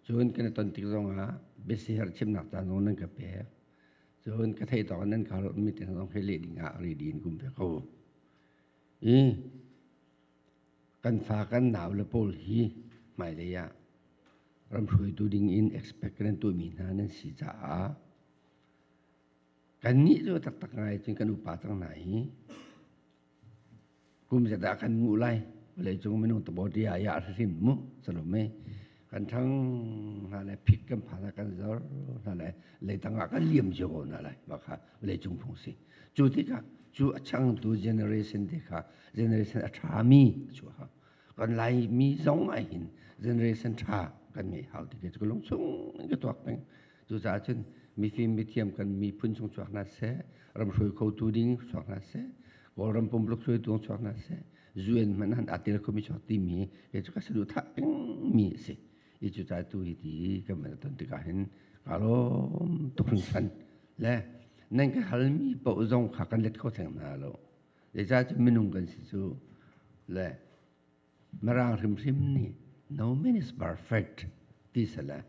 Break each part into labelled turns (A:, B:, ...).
A: Cun kan i ton tik zongah biasiher chimnak ca zong nan ka pek. Cun ka theih tawk in nan ka hal meeting zong khi leh ding ah ready in kum ve ko. I kan fa kan nau le pawl hi hmailei ah ram hruaitu ding in expect kan tuahmi hna nan si caah kannih cu taktak ngai cun kan upa cang hna i kum zedah kan nguh lai vawleicung minung tabaw ti ah yah hrim mu salome kan thang hna le phit kan pha na kan zor hna le leitang ah kan liam cio hna lai mah kha vawleicung phung si cu tikah cu a changtu generation te kha generation a ṭha mi cu ha kan lai mi zong ah hin generation ṭha kan ngei hau ti ke cu lung chung in ka tuak peng Cucaah cun mifim mithiam kan miphun chung chuak hna seh, ram hruai khotu ding chuak hna seh, Kawlram pumpuluk hruaitu chuak hna seh, UN hmanh han atil khomi chuak timi hi cu ka saduhthah pengmi a si. I cucaah tu hi ti kan van ton tikah hin ka lawm tuk hringhran. Le nan ka halmi paoh zong kha kan let kho theng hna lo. Zeicah cu minung kan si cu le Mirang hrimhrim nih no man is perfect ti sale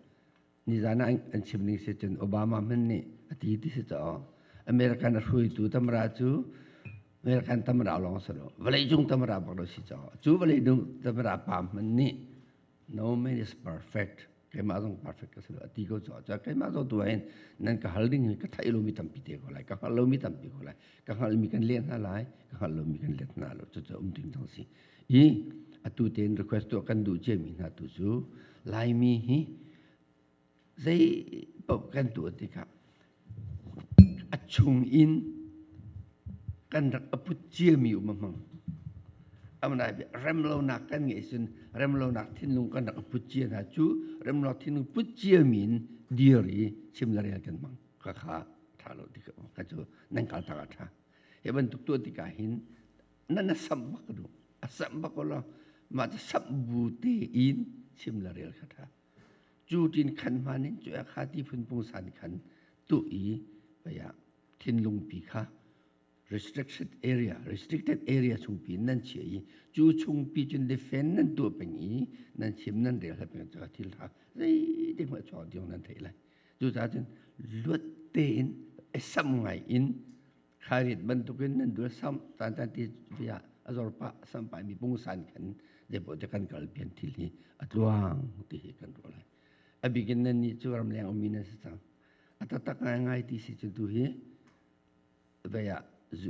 A: nizan ah an chim ning si cun Obama hman nih a ti ti si caw American a hruitu tamra cu American tamra lawng si lo vawlei cung tamra bak lo si caw cu vawlei nu tamra pa hman nih no man is perfect keimah zong perfect ka si lo ti ko caw caw keimah zong tu hin nan ka hal ding hi ka theih lomi tampi te ko lai ka hngal lomi tampi ko lai ka hngalmi kan let hna lai ka hngal lomi kan let hna lo cucu um ding thang si I atu tein request tuah kan duh ciami hna tu cu Laimi hi zei paoh kan tuah tikah a chung in kan rak aput ciami um a hmang. Amnai remlonak kan ngeih cun remlonak thinlung kan rak aput cia hna cu remlonak thinlung put ciami in dir i chim le rel kan mang ka kha tha lo ti ka cu nan kal ta ka tha hi bantuk tuah tikah hin na na sam bak du a sam bak ko lo mah ti sam bu te in chim la rel kha tha cu tin khan hman in cu kha ti phun pung san khan tu i paya thinlung pi kha restricted area restricted area chung pi nan chi i cu chung pi cun defend nan tu peng i nan chim nan rel ha peng cho thil tha zei ding ma cho diong nan thei lai cu ta cun luat te in esam ngai in Khairiat bantukin nan dul sam tantan ti via a zor pa sam pai mi pungsan kan depo te kan kal pian thil hi a tluang ti hi kan ro lai a bikin nan ni chu ram leng omi nan si cang a tatak ngai ngai ti si cu tu hi vaya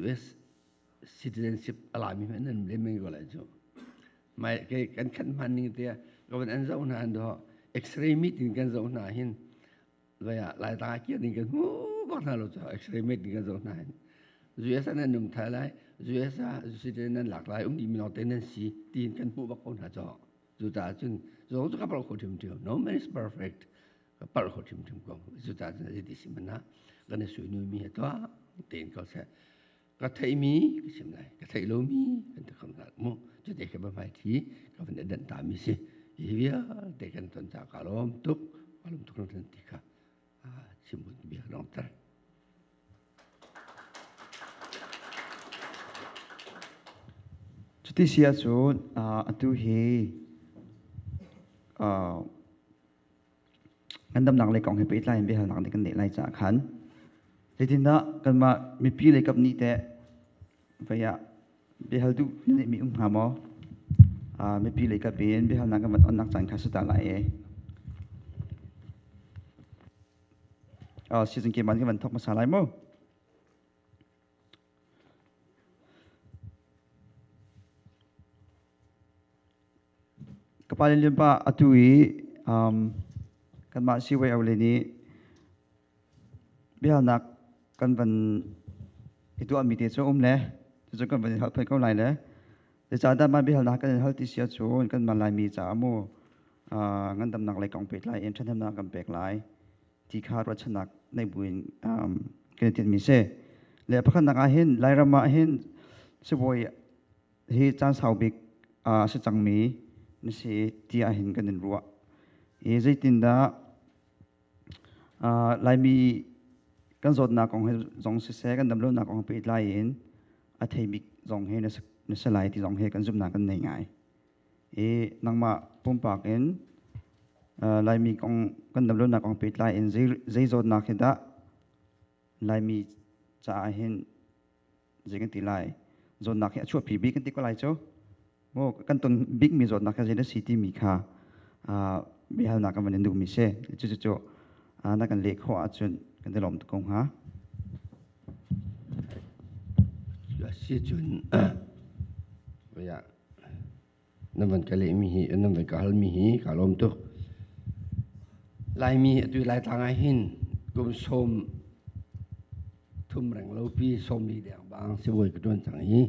A: US citizenship alami hman nan le meng go lai chu mai ke kan khan man ning te gavan an zau na an do x-ray meeting kan zau na hin vai ah lai ta kia ding kan hmu ko hna lo cu x-ray met ding kan zo hna hin USA nan um thai lai USA citizen nan lak lai um dih mi lawng te nan si tiin kan hmuh bak ko hna co cu ta cun zong cu ka parh kho ṭhim ṭhim no man is perfect ka parh kho ṭhim ṭhim ko cu ta cun a ti si mana kan i sui nu mi ha tuah tiin ko seh ka theihmi ka sim lai ka theih lomi kan te kham nak mu cu te ke ba mai thi ka van dan ta mi si hi vialte kan ton ta ka lom tuk alum tuk tan ti ka simbun bia long tar
B: cuti sia cun atu hi Ngandamnak lei kong he pehtlai in biahalnak nih kan leh lai caah khan zeitindah kanmah mipi lei kap nih teh vei ah biahal duh na neihmi um hnga maw? Uh, mipi lei kap in biahalnak kan van onnak caan kha suta lai e. Uh, season keman kan van thok masa lai maw? ka pale nih pa atu i um, kanmah siiwei aule nih biahalnak kan van i tuahmi te cu um le cucu kan van in hal phuan ko lai le zeicahdah mah biahalnak kan in hal ti sia cun kanmah laimi caah mu uh, ngandamnak lei kong pet lai in ṭhathnemnak kan pek lai ti kha ruahchannak nei buin um, kan i tinhmi si le pakhatnak ah hin lairam ah hin sibawi hi caan sau bik a si cangmi na si tiah hin kan in ruah i zeitindah laimi kan zawtnak kong he zong siseh kan damlonak kong he pehtlai in a theibik zong he na si lai ti zong he kan zumhnak kan nei ngai i nangmah pumpak in laimi kong kan damlonak kong pehtlai in zei zawtnak he dah laimi caah hin zei kan ti lai zawtnak hi a chuahpi bik kan ti ko lai cu maw kan ton bik mi zawtnak kha zeidah si timi kha biahalnak kan van in duhmi si cucu
A: na kan leh khawh ahcun kan ti lawm tuk ko hnga si cun ya Na van ka lehmi hi, na van ka halmi hi kaa lawm tuk. Laimi atu Laitlang ah hin kum sawm thum reng lopi sawm li deng bang sibawi ka ṭuan cang i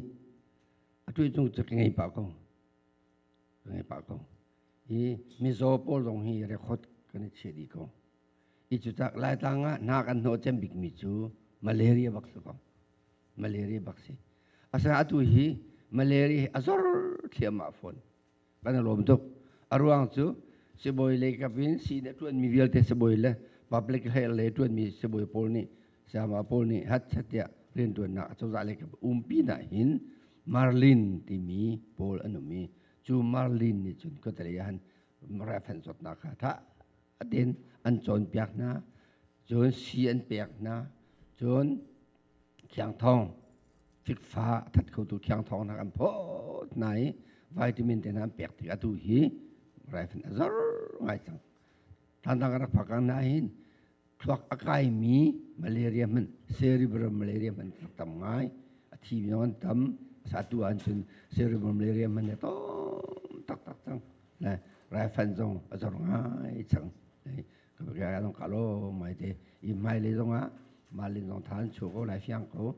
A: atu cung cu ka ngei pah ko. Ka ngei pah ko. I mizaw pawl zong hi record kan i chiah dih ko. I cucak Laitlang ah na kan hnawh cem bikmi cu malaria bak si ko. malaria bak si asinain atu hi malaria hi a zor thliahmah fawn kan i lawm tuk a ruang cu sibawi leikap in sii nih a ṭuanmi vialte sibawi le public health le ṭuanmi sibawi pawl nih sayama pawl nih hatchet tiah rianṭuannak a cozah leikap um pinah hin marlin timi pawl an um i cu marlin nih cun khuatelei ah han rifan zawtnak kha a thah atin an cawnpiak hna cun si an pek hna cun thiangthong fikfa a that khotu thiangthong nak an phawt hna i vitamin te hna an pek tik atu hi raifin a zor ngai cang tantang rak phakang na hin thluak a kai mi malaria man cerebral malaria man rak tam ngai a thi mi an tam satu an cun cerebral malaria man ne tom tak tak cang raifanh zong a zor ngai cang zong ka lo mai te i hmailei zong ah malin zong tha an chuh ko lai fiang ko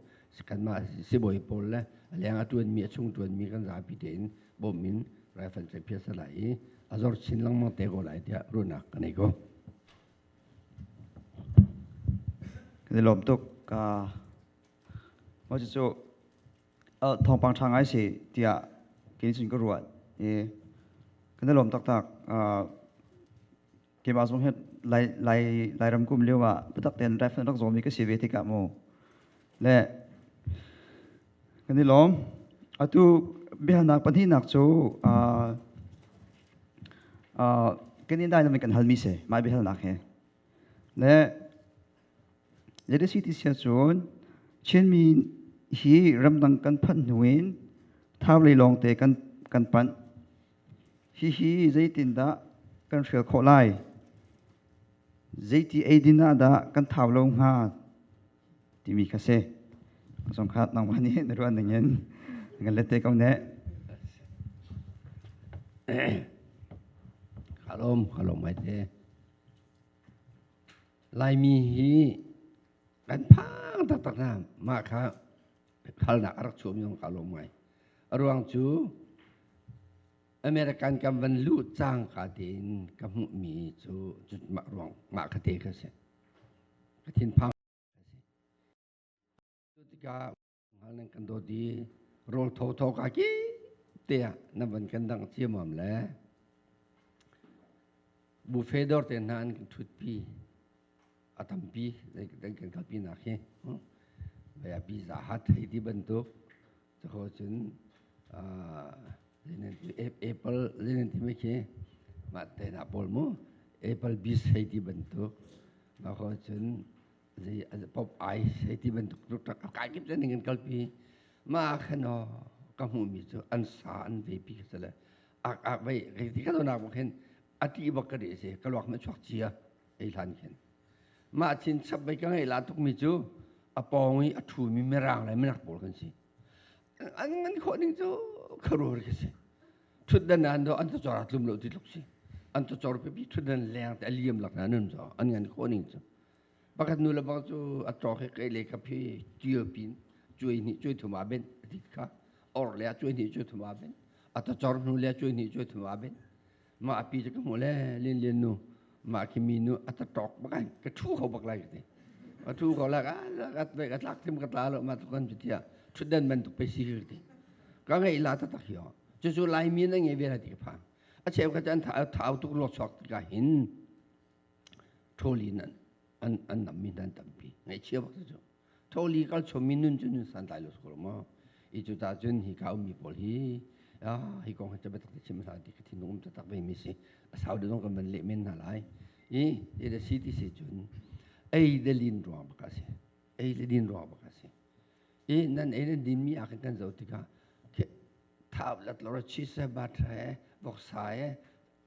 A: kanmah sibawi pawl le leng a tuanmi a chung tuanmi kan zapi tein bawm in raifanh sai phias lai i a zor chin lengmang te ko lai tiah runak ka nei ko
B: kan i lawm tuk ka 我就做 thawngpang ṭha ngai si tiah kei cun ka ruat i kan i lawm taktak keimah zong hi lairam kum lio ah biatak tein ref in rak zawmi ka si ve tikah mu le kan i lawm atu biahalnak pahnihnak cu kan i dai namen kan halmi si mai biahalnak hi le Zeiti ti sia cun Chinmi hi ramdang kan phanh hnu in thaulei lawngte kan kan panh. Hihi zeitindah kan hrial khawh lai? Zeiti eidin ah dah kan thau lo hnga timi kha si. Zong kha nangmah nih na ruah ning in ngan le te ko ne.
A: Kalom, kalom mai te. Laimi hi kan phang taktak hna. Mah kha halnak a rak chuahmi zong ka lawm ngai. A ruang cu American kan van luh cangka tein ka hmuhmi cu cu mah ruang mah kha te kha a si. Ka thinphang a si. Cu tikah ngal nan kan dawt i rawl tho tho ka ki tiah na van kan dang ciamam le buffet dor te hna an kan thutpi a tampi dan kan kalpi nak hi vaya pizza hat hei ti bantuk tako cun lenan tu apple lenan ti me khi ma te na pol mu apple bis hei ti bantuk ma ko cun zei pop ai sei ti bantuk tuk tak kai kip zaning in kalpi ma khano ka hmu mi cu an sa an ve pi ka sale ak ak vai kai ti ka do nak bak hin ati bak ka de se ka luak me chuak chia ei hlan khin ma chin chap bai ka ngai la tuk mi cu a pong i a thu mi merang lai menak pol kan si an man kho ning cu kharor ka si thut dan an do an to chora tlum lo ti lok si an to chor pe pi thut dan leng te liam lak na nun zo an ngan kho ning cu Pakhat nu le pa cu a cawk i keile ka phi ṭil pin cuai hnih cuai thum ah benh a ti kha. Or le a cuai hnih cuai thum ah benh. A tacor hnu le a cuai hnih cuai thum ah benh. Mah a pi cu ka hmu le Lin Lin nu mah khi mi nu a tacawk bak ai ka ṭhu kho bak lai ka ti. Ka ṭhu kho lai ka ka ka tlak tim ka tla lo mah tu kan cu tiah ṭhutdan bantuk pe si ka ti. Ka ngei la ta tak hi o. Cu cu Laimi na ngei ve la ti ka phang. A cheu ka chan thau tuk luak chuak ti ka hin. Ṭhawli in an an nammi hna an tampi. Ngaihchia bak cu. Ṭhawli kal chawmmi nun cu nun santlai lo sukur maw? I cu ta cun hi ka ummi pawl hi ah hi kong hi cu biatak te chim hna ti ka thinlung um taktak vemi si. A sau deuh zong kan van leh men hna lai. I hi da si ti si cun ei le lin ruang bak a si. Ei le lin ruang bak a si. I nan ei nan dinmi ah khin kan zoh tikah thau lat lo ra chisa batra he voksa he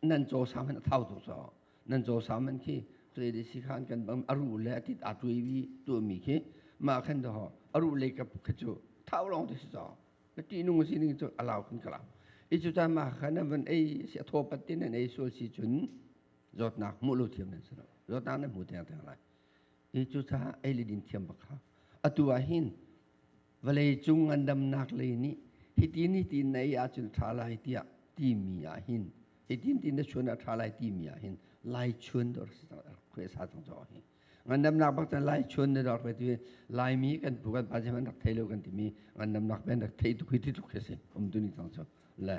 A: nan caw saman a thau tuk caw nan caw saman khi Freddy Sikhan kan bang a ru le atit a tui vi tu mi khi ma khan to ho a ru le ka khi chu thau long ti si caw na ti nung si ning chu alau kan kala i chu ta ma khan van ei si tho pat tin nan ei sul si chun zot nak mu lu thiam nan sano zot nak na mu teng teng lai i chu sa ei le din thiam bak ha atu a hin vawleicung ngandamnak lei nih hitin hitin na ei ahcun ṭha lai tiah timi ah hin hitin tin na chun ah ṭha lai timi ah hin lai chun dor khwe sa tong caw hi ngandamnak bak tan lai chun na dor khwe tu laimi kan pu kan pa se man rak thei lo kan timi ngandamnak ben rak thei tuk hi ti tuk khi si um tu ni tong caw le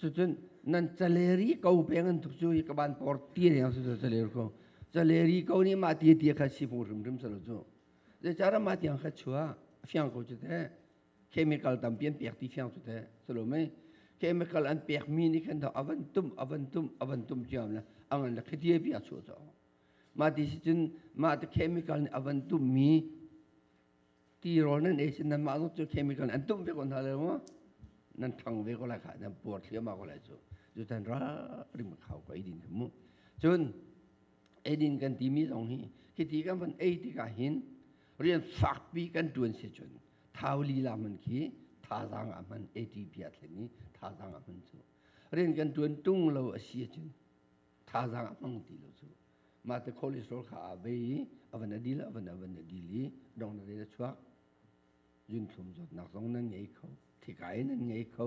A: cucun nan caleri ko peng an tuk cu i ka ban por ti ne su cu caleri ko caleri ko ni ma ti ti kha si pu rim rim salo cu ze chara ma tiang kha chua fiang ko chu te chemical tam pian pek ti fiang chu te salo mei chemical an pek mi ni khan thau avan tum avan tum avan tum chiam la angan la khitie bia chu cho ma ti si cun ma te chemical ni avan tum mi ti rawl nan ei sin nanmah zong cu chemical an tumh ve ko hna lai maw nan thang ve ko lai kha nan puar thliahmah ko lai cu cu tan ra rim khau ko eidin mu cun eidin kan timi zong hi hiti kan van ei tikah hin rian fakpi kan tuan si cun thau lila man khi thazang ah man ATP a thlen i thazang ah man cu rian kan tuan tung lo a si cun thazaang a hmang ti lo cu mah te cholesterol kha a bei i a van a dil a van a van a dil i dong na a chuak zunthlum zawtnak zong nan ngei kho thikai nan ngei kho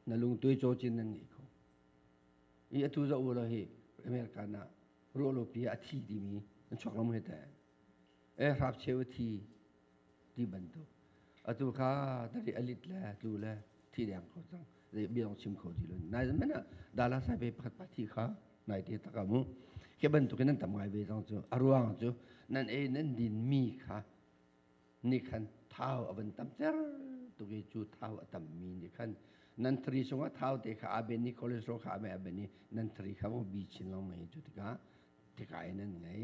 A: na lungtuai cawcin nan ngei kho i atu za ula hi american ah ruolopi a thi timi an chuak lam he teh eh hrakcheu thi ti bantuk atu kha tari alit le tlu le thi deng kho cang zei bia dong chim kho ti lo nai zan men ah dala sai pe pakhat pa thi kha nai te tak amu ke bantuk nan tam ngai ve cang cu aruang cu nan ei nan din mi kha ni khan thau avan tam cer tu ke cu thau atam mi ni khan nan thri sungah thau te kha aben ni cholesterol kha ame aben ni nan thri kha bo bi chin long mai cu tika tika nan ngai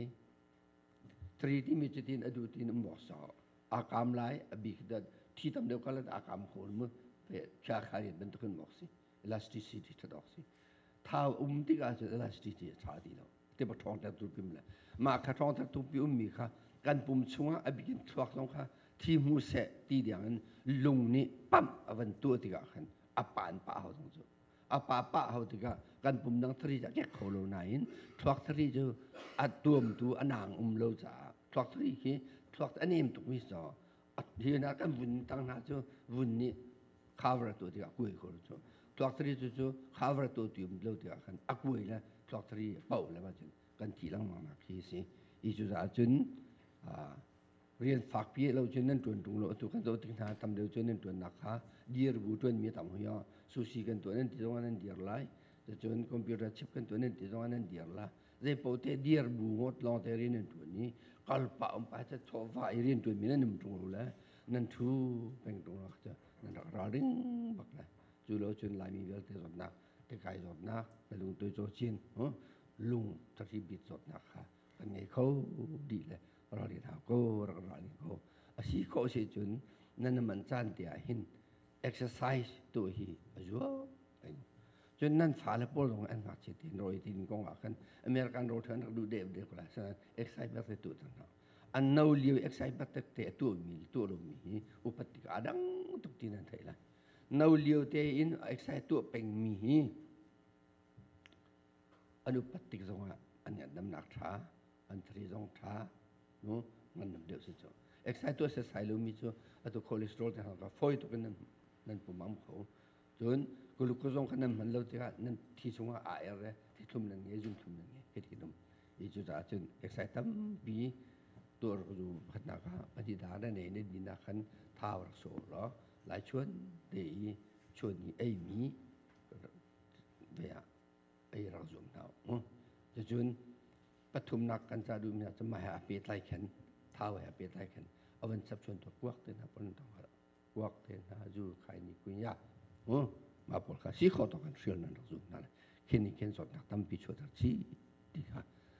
A: Tri timi cu tin a du tin um bok sau. A kam lai, a bik dat. Thi tam deuh kalat a kam khol mu. Pe cha khali bantukin bok si. Elasticity that ok si. Thau um tikah cu elasticity a tha ti lo. Tiba thong tak tu pim le. Ma kha thong tak tu pi um mi kha kan pum chungah a bikin thluak zong kha thi mu se ti diang in lung nih pam a van tua tikah khan a pan pa hau zong cu. a pa pah hau tikah kan pum dang thari cu a kek kho lo nain thluak thari cu a tuamtu a naang um lo caah thluak thari khi thluak a nem tukmi so hi na kan vun tang hna cu vun nih khavar to tikah kuai khor cu thluak thari cu cu khavar to ti um lo tikah khan a kuai le thluak thari poh le ba cun kan ti lengmang nak hi si i cu caah cun rian fakpi lo cun nan tuan tung lo atu kan zoh tik hna tam deuh cun nan tuannak kha dir bu tuanmi tam hui ah sushi kan tuan nan ti zong nan dir lai cun computer chip kan tuan nan ti zong nan dir la zei paoh te dir bu ngot long te rin nan tuan ni kalpa um pa ta thawfa i rin tuan mi nan nim tung lo le nan thu peng tung la cha nan rak ra ring bak le cu lo cun laimi vialte zawtnak tekai zawtnak na lung toi cho chin lung thakhi bit zawtnak kha an ngei kho dih le ralrin hau ko rak ralrin ko a si khawh si cun nan man caan te ah hin exercise tu hi a zuam cun nan fale pawl zong an ngakchia tin roi tin kong ah khan american road han rak du de de kula san exercise bar te tu tan ha an no liu exercise bar tek te tu mi tu ro mi hi upat ti ka adang tuk tin an thai la no liu te in exercise tu peng mi hi an upat tik zongah an ngandamnak ṭha an thari zong ṭha nu ngandam deuh si cu exercise tu exercise lo mi cu atu cholesterol te hna kha fawi tuk in nan nan pumam kho cun glucose zong kha nan hman lo tikah nan thi chungah aa er le thi thlum nan ngei zum thlum nan ngei hiti dum i cu caah cun exercise tampi tuar zu khatnak kha pati da na nei na ni na khan thau rak so lo lai chuan te i chuan ni ei mi ve ah ei rak zum hna u. Cucun pathumnak kan ca duhmi ah cun mah he a pehtlai khin thau he a pehtlai khin a van chapchuan tu kuak te hna pon tong har kuak te hna zu khai ni kuin ya u ma pol kha si kho to kan hril nan rak zum hna le khin ni khin sot nak tampi chu tar chi ti kha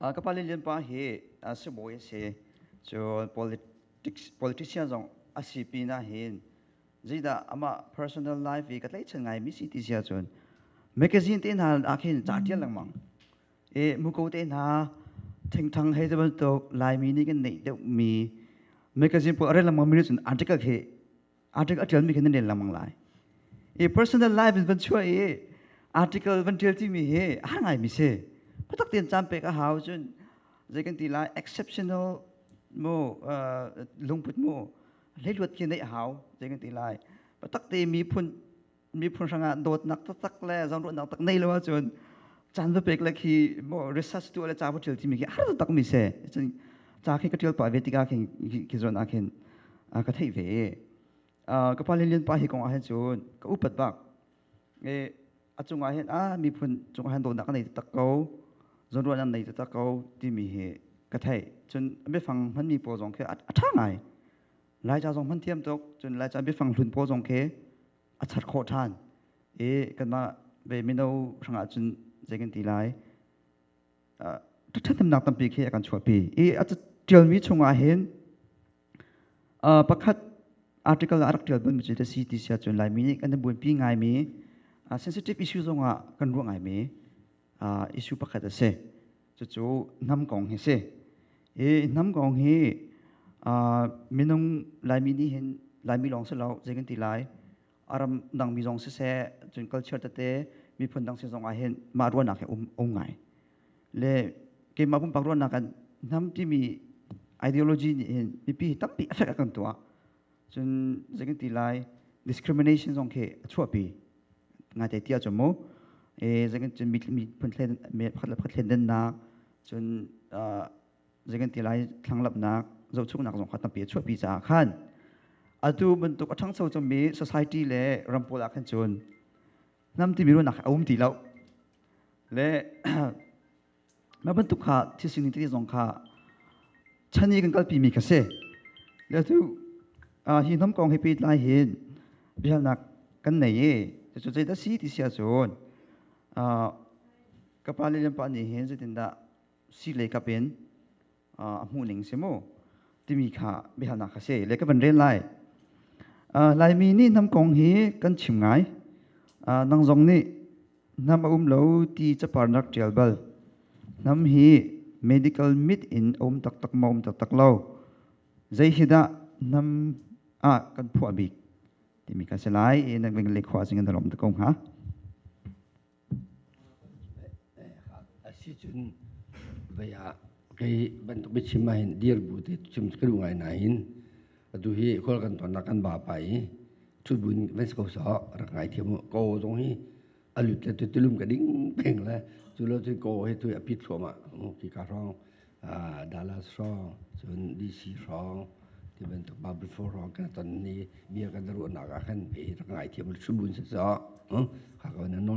B: Ka pale lianpa hi sibawi a si. Cu politics, politician zong a si pin ahhin zeidah amah personal life i ka tlaihchan ngaimi si ti si ahcun mekazin te hna ahkhin ca ṭial lengmang i muko te hna thengthang hei ti bantuk Laimi nih kan neih deuhmi mekazin pawl a rel lengmangmi nih cun article khi article a tialmi khin nan rel lengmang lai i personal life in van chuah i article van tial timi hi a har ngaimi si khuatak tein caan pek a hau cun zei kan ti lai exceptional mu uh, lungput mu hleiluat khi neih a hau zei kan ti lai patak te miphun miphun hrangah dawtnak taktak le zawnruahnak tak nei lo ahcun caan va pek le khi research tu le ca va ṭil timi khi har takmi se cun ca khi ka ṭial pah ve tikah khi khi zuan ah khin ka theih ve ka pa le lian pa hi kong ah hin cun ka upat bak a cungah hin a miphun cungah hin dawtnak nei taktak ko zawnruahnak nei taktak ko timi hi ka theih cun a biafang hmanmi pawl zong khi a ṭha ngai Laica zong hman thiam tuk cun Laica biafang hlun paw zong khi a char khawh ṭhan i kanmah ve mino hrangah cun zei kan ti lai ṭhathnemnak tampi khi a kan chuahpi i a ṭialmi chungah hin pakhat article a rak ṭial bun cu a si ti si ahcun Laimi nih kan i buanpi ngaimi sensitive issue zongah kan ruah ngaimi issue pakhat a si cucu hnam kong hi si hi hnam kong hi minung laimi nih hin laimi lawng si lo zei kan ti lai aram dangmi zong si se cun culture tete miphun dang si zong ah hin mah ruahnak hi um um ngai le keimah pumpak ruahnak kan hnam timi ideology nih hin mipi hi tampi affect a kan tuah cun zeikan ti lai discrimination zong khi a chuahpi ngaite ti ahcun mu e zeikan cun mi mi phun thlen me pakhat le pakhat thlen dennak cun zeikan ti lai thlanglamnak zohchuknak zong kha tampi a chuahpi caah khan atu bantuk a ṭhangcho cangmi society le ram pawl ah khan cun hnam timi ruahnak a um ti lo le Mah bantuk kha thilsing ning tete zong kha chan i kan kalpimi ka si. Le atu hi hnam kong he pehtlai hin biahalnak kan nei i cucu zeidah si ti si ahcun ka pa le le pa nih hin zeitindah si le kap in a hmuhning si mu timi kha biahalnak kha si le ka van rel lai laimi nih hnam kong hi kan chim ngai nang zong nih hnam a um lo ti caparnak ṭial bal hnam hi medical mit in a um taktak ma um taktak lo zei hi dah hnam ah kan phuah bik timi kan si lai i nak ving lekhwa sing an rom ta ko hnga Asicun vei ah kei bantuk
A: biachim ahhin dir bu te cu ka duh ngai nain atu hi khual kan tonnak kan ba pa i ṭhut buin van si ko sawh rak ngaithiam u. Kaw zong hi a lut le tu tilum ka ding peng le cu lo cun kaw hi tu hi a pit thluahmah khika hrawng Dallas hrawng cun DC hrawng ti bantuk Bible four hrawng kan ton i bia kan ruahnak ah khan kei rak ngaithiam u ṭhut buin si sawh. Khaka na nawl